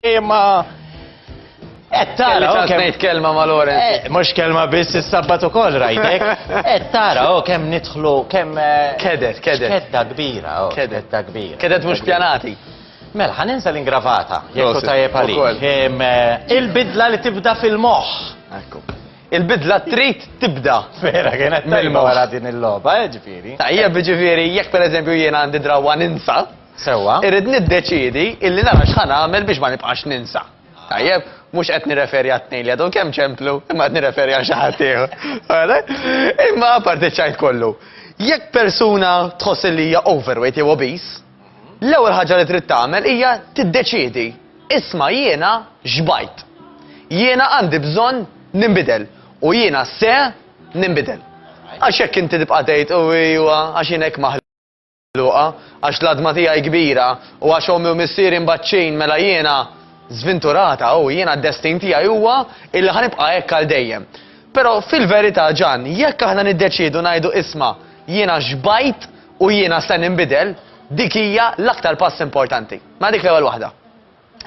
Imma Et tara, ok. Nejt kelma ma Lorenz. Eh, Mux kelma biss il-sabbat u koll rajtek. Et tara, o kem nitħlu, kem. Eh, kedet, kedet. Kedda kbira, o. Kedet ta' kbira. Kedet mux pjanati. Mela, ħaninsa l-ingravata, jekku tajjeb għalik. Eh, il-bidla li tibda fil-moħ. Ekku. Il-bidla trid tibda. Vera, kienet tajba wara din il-loba, eh, ġifiri. Tajja, ġifiri, jekk per eżempju jiena għandi drawa ninsa. Sewa. Irrid niddeċidi illi nara xħan għamel biex ma nibqax ninsa. Tajja, mux qed nirreferi għat-tnejn li għadhom kemm ċemplu, imma qed nirreferi għal xi ħadd Imma parti ċajt kollu. Jekk persuna tħoss li hija overweight jew obese, L-ewwel ħaġa li trid tagħmel hija tiddeċiedi, isma' jiena xbajt. Jiena għandi bżonn ninbidel u jiena se ninbidel. Għax jekk inti tibqa' tgħid u iwa għax jien hekk maħluqa, għax l-adma tiegħi kbira u għax ommi u missieri mbaċċin mela jiena żvinturata u jiena d-destin tiegħi huwa illi ħanibqa' hekk għal dejjem. Però fil-verità ġan, jekk aħna niddeċiedu ngħidu isma' jiena xbajt u jiena se ninbidel, dik hija l-aktar pass importanti. Ma dik l-ewwel waħda.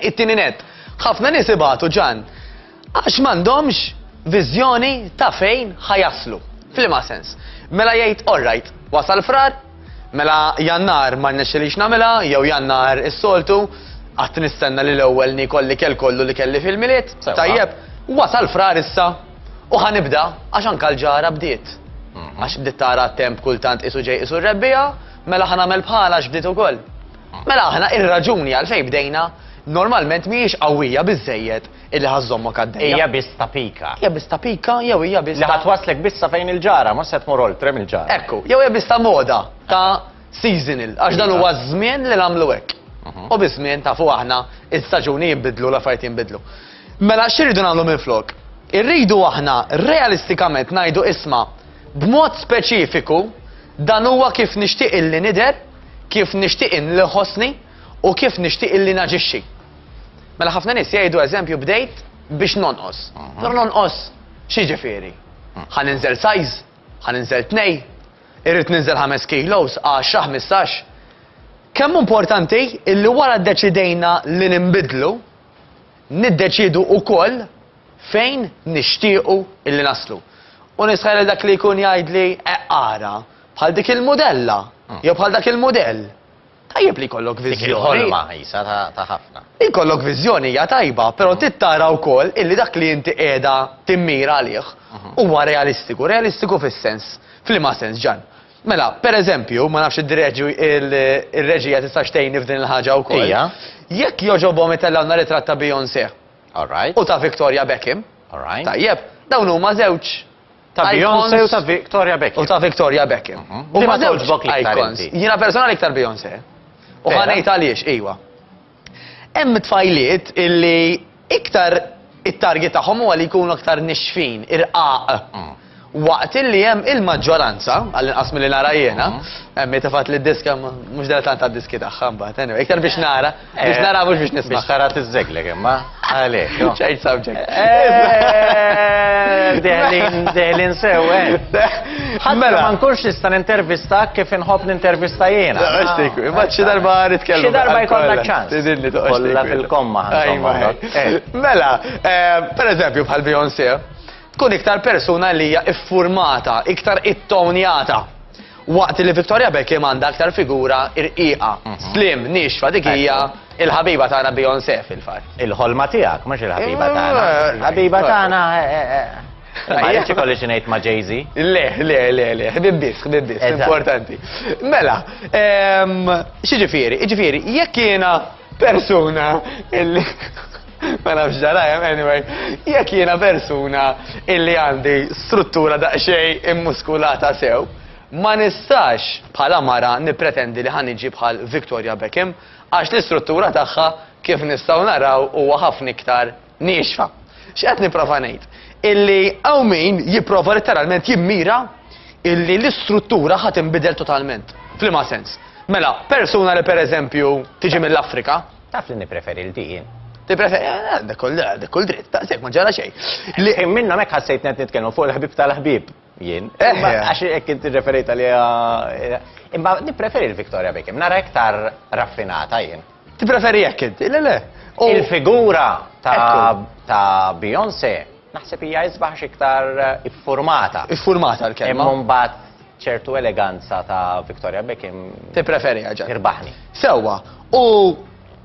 It-tieni net, ħafna nies ibatu ġan għax m'għandhomx viżjoni ta' fejn ħajaslu. Flima sens. Mela jgħid, all right, wasal frar, mela jannar ma rnexxilix nagħmilha, jew jannar is-soltu, qatt nistenna li l-ewwel nikolli kell kollu li kelli fil-miliet. Tajjeb, wasal frar issa, U ħa nibda, għax anka l-ġara bdiet. Mhm. Għax bdiet tara temp kultant isu ġej isu rebbija, mela ħa nagħmel bħala għax bdiet ukoll. Mhm. Mela aħna ir-raġuni għalfejn bdejna normalment mhijiex qawwija biżejjed illi ħażżommok għaddejja. Hija biss ta' pika. Hija biss ta' pika jew hija biss. Li ħatwaslek biss sa fejn il-ġara, ma se tmur oltrem il-ġara. Ekku, jew hija biss ta' moda ta' seasonal, għax dan huwa żmien li nagħmlu hekk. Mhm. U biż-żmien tafu aħna, il-staġuni jinbidlu, l-affarijiet jinbidlu. Mela x'irridu nagħmlu minflok? Irridu aħna realistikament ngħidu isma' b'mod speċifiku dan huwa kif nixtieq illi nidher, kif nixtieq illi nħossni u kif nixtieq illi naġixxi. Mela ħafna nies jgħidu eżempju bdejt biex nonqos. Però nonqos x'jiġifieri? Ħa ninżel size, ħa ninżel tnej, irrid ninżel ħames kilos, għaxra, ħmistax. Kemm importanti illi wara ddeċidejna li ninbidlu, niddeċiedu wkoll fejn nixtiequ illi naslu. U nisħaq lil dak li jkun jgħidli eqq ara, bħal dik il-mudella, jew bħal dak il-mudell. Tajjeb li jkollok viżjoni. Dik il-ħolma qisha ta' ħafna. Li jkollok viżjoni hija tajba, però mm. trid tara wkoll illi dak li inti qiegħda timmira għalih mm-hmm. huwa realistiku, realistiku fis-sens, f'liema sens ġan. Mela, per eżempju, ma nafx id-direġi il-reġija tistax tgħinni f'din il-ħaġa wkoll. Ija. Jekk jogħġobhom itellgħuna ritratt ta' Beyoncé. All right. U ta' Victoria Beckham. All right. Tajjeb, dawn huma żewġ Ta' Beyoncé u ta' Victoria Beckham. U ta' Victoria Beckham. Mhm. U ma żewġ icons. Jiena personali iktar Beyoncé. U ħanejt għaliex, iwa. Hemm tfajliet illi iktar it-target tagħhom huwa li jkunu aktar nixfin, irqaq. Waqt illi hemm il-maġġoranza, għall-inqas milli nara jiena, hemm min tefgħet li d-diska mhux daqstant għad-diski tagħha mbagħad, anyway, iktar biex nara, biex nara mhux biex nisma'. Biex tara tiżżegleg imma. Għalek. Change subject. Deħlin sew, Għadmela. Mela. Ma nkunx nista n-intervista kif nħob n-intervista jena. Għaxtik, maċċi darba nitkellmu. Xi darba jkollna ċans. Tidilli toqgħod. Kolla fil-komma. Eh. Mela, eh, per eżempju bħal Beyoncé, tkun iktar persuna li hija iffurmata, iktar ittonjata. Waqt li Victoria Beckham għandha aktar figura irqiqa, mhm. slim, nixfa dik hija il-ħabiba tagħna Beyoncé fil-fatt. Il-ħolma tiegħek mhux il-ħabiba mm, tagħna. Eh, ħabiba eh, tagħna eh, Ma jieċi kolli xinajt ma Jay-Z? Le, le, le, le, ħbibbis, ħbibbis, importanti. Mela, ehm, xieġifiri, ġifiri, jekk jena persuna illi ma nafx ġarajem, anyway, jekk jiena persuna illi għandi struttura daqsxejn immuskulata sew, ma nistax bħala mara nippretendi li ħaniġi bħal Victoria Beckham għax l-istruttura tagħha kif nistgħu naraw huwa ħafna iktar Niexfa. X'qed nipprova ngħid? Illi hawn min jipprova letteralment jimmira illi l-istruttura ħadd inbidel totalment. Flima sens. Mela, persuna li pereżempju tiġi mill-Afrika. Taf li nippreferi l dijin. Tippreferi, eh, eh, dak kull dritt, daqshekk ma ġara xejn. Li minna mek ħassejt net nitkellmu fuq il-ħbib tal-ħbib. Jien. Imma għax hekk inti referejt għaliha. Imma nippreferi l-Victoria Beckham, nara iktar raffinata jien. Tippreferi hekk inti, le le. Il-figura ta' Beyoncé naħseb hija isbaħ iktar iffurmata. Iffurmata l-kelma. Imma mbagħad ċertu eleganza ta' Victoria Beckham. Tippreferi ġa. Irbaħni. Sewwa. U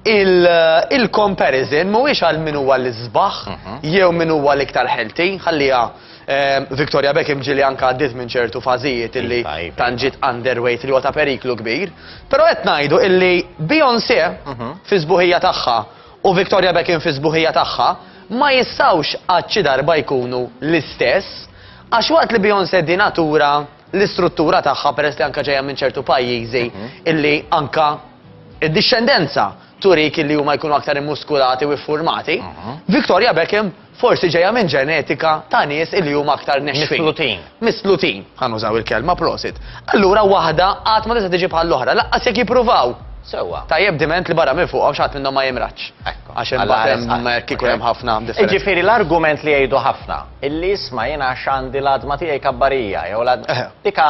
il-comparison mhuwiex għal min huwa l-isbaħ mhm. jew min huwa l-iktar ħelti, ħalliha ehm, Victoria Beckham ġili anka għaddit minn ċertu fażijiet illi iva, iva, tanġit iva. underweight li huwa ta' periklu kbir. Però qed ngħidu illi Beyoncé mhm. fi sbuħija tagħha u Victoria Beckham fi sbuħija tagħha ma jistawx għadċi darba jkunu l-istess għax waqt li Beyoncé dinatura l-istruttura tagħha peress li anke ġejja minn ċertu pajjiżi illi anke id-dixxendenza turik illi huma jkunu aktar immuskulati u iffurmati, Victoria Beckham forsi ġejja minn ġenetika ta' nies illi huma aktar nexfin. Mislutin. Mislutin, ħa nużaw il-kelma, prosit. Allura waħda qatt ma tista' tiġi bħall-oħra, lanqas jekk jippruvaw. Sewwa. Tajjeb diment li barra minn fuqhom xi ħadd minnhom ma jimradx. Ekku. Għax imbagħad hemm hekk ikun hemm ħafna differenza. Jiġifieri l-argument li jgħidu ħafna. Illi isma' jien għax għandi l-għadma tiegħi kabbarija, jew l-għadma tika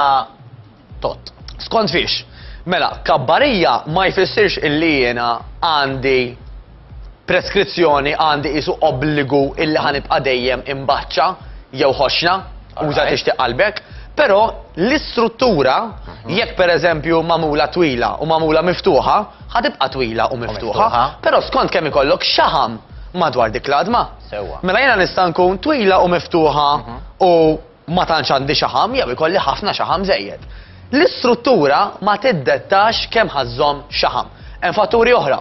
tott. Skont fiex? Mela, kabbarija ma jfissirx illi jiena għandi preskrizzjoni, għandi qisu obbligu illi ħa nibqa' dejjem imbaċċa jew ħoxna, uża tixtieq qalbek, però l-istruttura mhm. jekk pereżempju magħmula twila u magħmula miftuħa, ħa tibqa' twila u miftuħa, però skont kemm ikollok xaħam madwar dik l-għadma. Sewwa. Mela jiena nista' nkun twila u miftuħa u ma tantx għandi xaħam jew ikolli ħafna xaħam żejjed. L-istruttura ma tiddettax kemm ħa żżomm xaħam. Hemm fatturi oħra,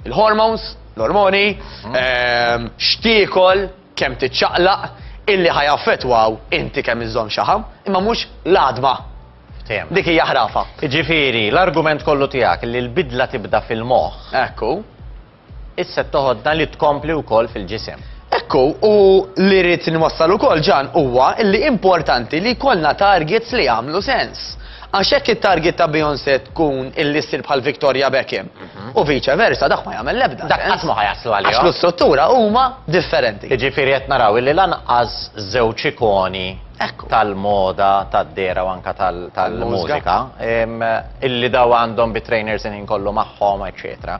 il-hormones, l-ormoni, ehm, x'tiekol, kemm tiċċaqlaq, illi ħa jaffettwaw inti kemm iżżomm xaħam, imma mhux l-għadma. Ftehim. Dik hija ħrafa. Ġifieri, l-argument kollu tiegħek li l-bidla tibda fil-moħħ. Ekku. Is-sett toħodna li tkompli wkoll fil-ġisem. Ekku, u li rrid inwassal ukoll Ġan huwa li importanti li jkollna targets li jagħmlu sens. Għax jekk it-target ta' Beyoncé tkun illi ssir bħal Victoria Beckham mhm. u vice versa dak ma jagħmel l-ebda. Dak qatt ma ħajaslu għalihom. Għax l-istruttura huma differenti. Jiġifieri qed naraw illi lanqas żewġ ikoni tal-moda, tad-dera u anka tal-mużika, illi daw għandhom bit-trainers in kollu magħhom, eċċetera.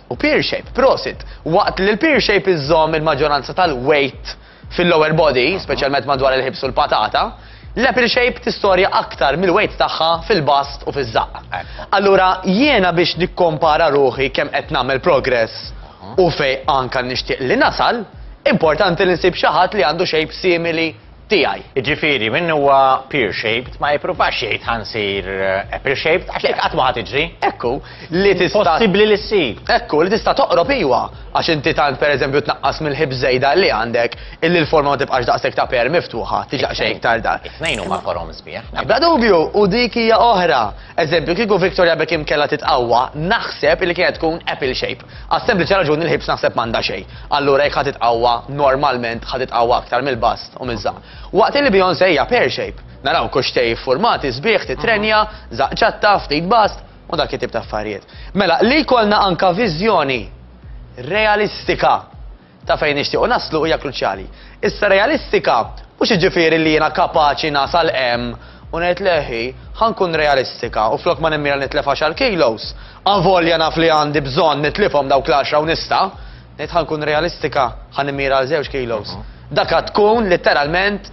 u pear shape, prosit, waqt li l-pear shape iżżomm il-maġġoranza tal-weight fil-lower body, speċjalment madwar il-ħibs u l-patata, l-apple shape tistorja aktar mill-weight tagħha fil-bast u fiż-żaqq. Allura jiena biex nikkompara ruħi kemm qed nagħmel progress u fejn anke nixtieq li nasal, importanti li nsib xi ħadd li għandu shape simili tiegħi. Jiġifieri min huwa pear-shaped ma jippruvax jgħid ħa nsir apple-shaped għax dik qatt ma ħa tiġri. Hekk hu, li tista'. Impossibbli li ssir. Hekk hu, li tista' toqrob iwa, għax inti tant pereżempju tnaqqas mill-ħips żejda li għandek illi l-forma ma tibqax daqshekk ta' pear miftuħa, tiġi daqsxejn iktar dark. It-tnejn huma forom sbieħ. Bla dubju, u dik hija oħra. Eżempju, kieku Victoria Beckham kellha titqawwa, naħseb illi kienet tkun apple-shaped. Għas-sempliċi raġuni li l-ħibs naħseb m'għandha xejn. Allura jekk ħa titqawwa, normalment ħa titqawwa aktar mill-bast u miż-żaqq. Waqt li Beyoncé hija pear shape. Naraw kuxxtej iffurmati sbieħ, titrenja, żaqq ċatta, ftit bast, u dak it-tip ta' affarijiet. Mela, li jkollna anka viżjoni realistika ta' fejn nixtiequ naslu hija kruċjali. Issa realistika mhux jiġifieri li jiena kapaċi nasal hemm u ngħid le hi, ħa nkun realistika u flok ma nimmira nitlef għaxar kilos, avolja naf li għandi bżonn nitlifhom dawk l-għaxra u nista', ngħid ħa nkun realistika, ħa nimmira għal żewġ kilos. Dak għad tkun litteralment.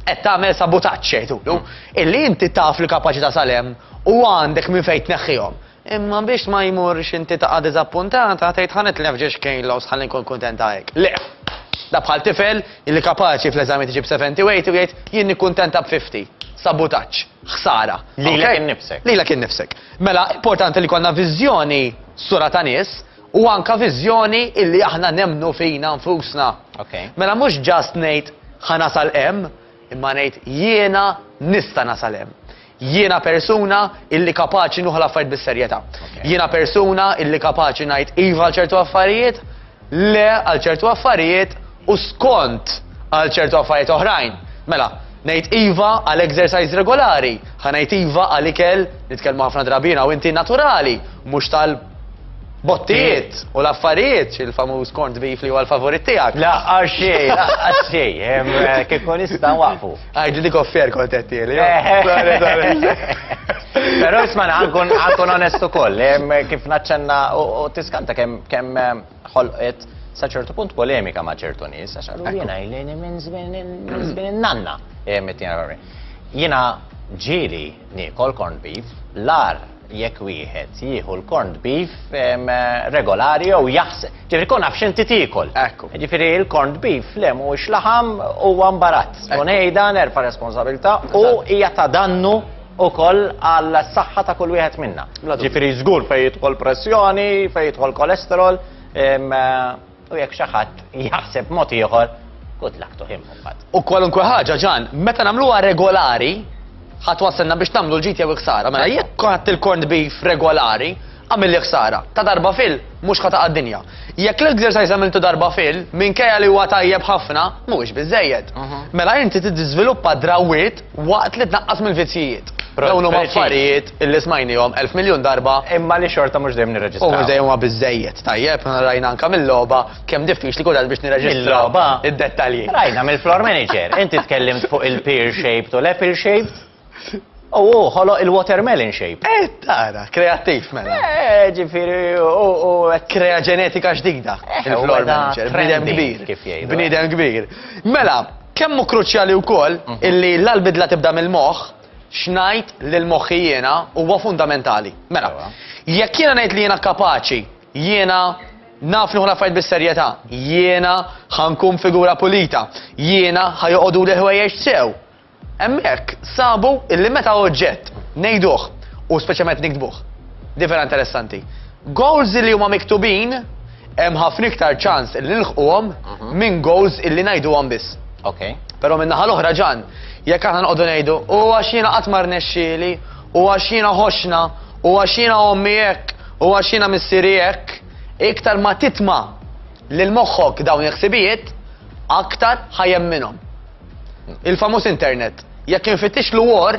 Qed tagħmel sabutaġġ, jgħidulu, illi inti taf li kapaċità sal hemm u għandek minn fejn tneħħihom. Imma biex ma jmurx inti taqa' diżappuntata, tgħid ħa nitlef ġiex kilos ħalli nkun kuntenta hekk. Le! Da bħal tifel illi kapaċi fl-eżamijiet iġib 70 u 80 u jgħid jien nikkuntenta b' 50. Sabutaġġ. Ħsara. Lilek innifsek. Lilek innifsek. Mela, importanti li jkollna viżjoni sura ta' nies, u anka viżjoni illi aħna nemmnu fina nfusna. Okay. Mela mhux ġast ngħid ħa nasal hemm, imma ngħid jiena nista' nasal hemm. Jiena persuna illi kapaċi nuħu l-affarijiet bis-serjetà. Okay. Jiena persuna illi kapaċi ngħid iva għal ċertu affarijiet, le għal ċertu affarijiet u skont għal ċertu affarijiet oħrajn. Mela, ngħid iva għal exercise regolari, ħa ngħid iva għal ikel, nitkellmu ħafna drabina u inti naturali, mhux tal Bottijiet u l-affarijiet, il-famuż corned beef li huwa l-favorit tiegħek. La, għaxej, la, għaxej, eh, kif kun nista' waqfu. Għajġi dik offer kontetti li. Però isma' għankun għankun onest ukoll, kif naċċenna u tiskanta kemm kemm ħolqet sa ċertu punt polemika ma' ċertu nies, għax għallu jiena jlejni minn żmien in-nanna. Jiena ġili Niekol corned beef, l-agħar jekk wieħed jieħu l-corned beef regolari jew jaħseb. Ġifieri kun naf x'inti tiekol. Ekku. Ġifieri l-corned beef le mhuwiex laħam huwa mbarazz. U ngħidha nerfa' responsabilità u hija ta' dannu ukoll għal saħħa ta' kull wieħed minna. Ġifieri żgur fejn jidħol pressjoni, fejn jidħol kolesterol, U jekk xi ħadd jaħseb mod ieħor, good luck to him mbagħad. U kwalunkwe ħaġa ġan, meta nagħmluha regolari, ħadd wasselna biex tagħmlu l-ġid jew iksara. Mela jekk ħadd il-corned beef regolari, għamilli ħsara. Ta' darba fil, mhux ħata għad-dinja. Jekk l-exercise għamiltu darba fil, minkejja li huwa tajjeb ħafna, mhuwiex biżejjed. Mhm. Mela inti tiżviluppa drawwiet Waqt li tnaqqas mill-vizzjijiet. Dawn huma affarijiet li smajniehom elf miljun darba. Imma li xorta mhux dejjem nirreġistrawhom. U mhux dejjem huma biżżejjed. Tajjeb, rajna anke mil-logħba kemm diffiċli kien għad biex nirreġistraw id-dettalji. Rajna mill-floor manager. Inti tkellimt fuq il-pear shaped u l-apple shaped. U hu ħoloq il-watermelon shape. Eh, tara, kreattiv mela. Eh, ġifieri u krea ġenetika ġdida. Il-floor manager, bniedem kbir. Kif jgħidu. Bniedem kbir. Mela, Kemm hu kruċjali wkoll illi la l-bidla tibda mill-moħħ, x'ngħid lil moħħi jiena huwa fundamentali. Mela, jekk jiena ngħid li jiena kapaċi, jiena naf nieħu l-affarijiet bis-serjetà, jiena ħa nkun figura pulita, jiena ħa joqogħduli l-ħwejjeġ sew. Hemmhekk sabu illi meta oġġett ngħiduh u speċjalment nikdbuh. Di vera interessanti. Goals li huma miktubin hemm ħafna iktar ċans li nilħquhom minn goals illi ngħiduhom biss. Okay. Però minn naħa l-oħra ġan, jekk aħna nqogħdu ngħidu, u għax jiena qatt ma rnexxieli, u għax jiena ħoxna, u għax jiena ommi hekk, u għax jiena missieri hekk, iktar ma titma' lil moħħok dawn il-ħsibijiet, aktar ħajem minnhom. Il-famuż internet, jekk infittix l-war,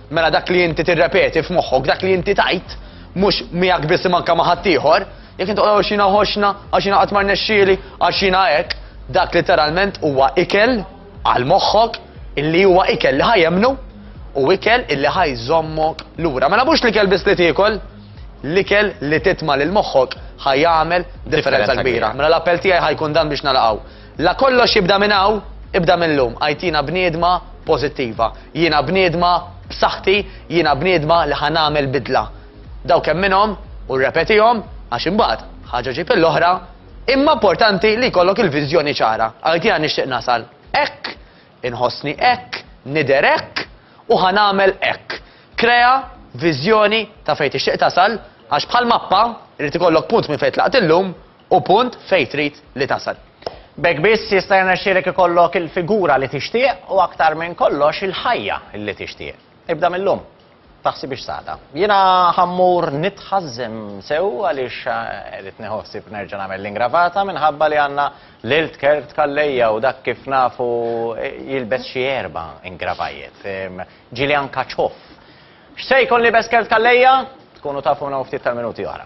Mela dak li inti tirrepeti f'moħħok, dak li inti tajt, mhux miegħek biss manka ma' ħaddieħor, jekk inti tqogħod xina ħoxna, għax jiena qatt ma rnexxieli, għax jiena hekk, dak literalment huwa ikel għal moħħok illi huwa ikel li ħajemnu u ikel illi ħajżommok lura. Mela mhux l-ikel biss li tiekol, l-ikel li titma' lil moħħok ħajamel differenza kbira. Mela l-appell tiegħi ħajkun dan biex nalaqgħu. La kollox jibda minn hawn, ibda mil-lum, għajtina bniedma pożittiva. Jiena bniedma b'saħħti, jiena bniedma li ħa nagħmel bidla. Dawk hemm minnhom, u rrepetihom, għax imbagħad, ħaġa ġib il-oħra, imma importanti li jkollok il-viżjoni ċara. Għajtina nixtieq nasal hekk, inħossni hekk, nidher hekk, u ħa nagħmel hekk. Krea viżjoni ta' fejn tixtieq tasal, għax bħal mappa, irid ikollok punt minn fejn tlaqt illum, u punt fejn trid li tasal. B'hekk biss jista' jirnexxielek ikollok il-figura li tixtieq u aktar minn kollox il-ħajja li tixtieq. Ibda mil-lum. Taħsibhiex sata. Jiena ħa mmur nitħażżem sew għaliex irid nieħu ħsieb nerġa' nagħmel l-ingravata minħabba li għandna l-ilt kelb tkalleja u dak kif nafu jilbes xi erba' ingravajjet. Ġieli anka ċoff. X'se jkun liebes Kevt Calleja? Tkunu tafuna u ftit tal-minuti oħra.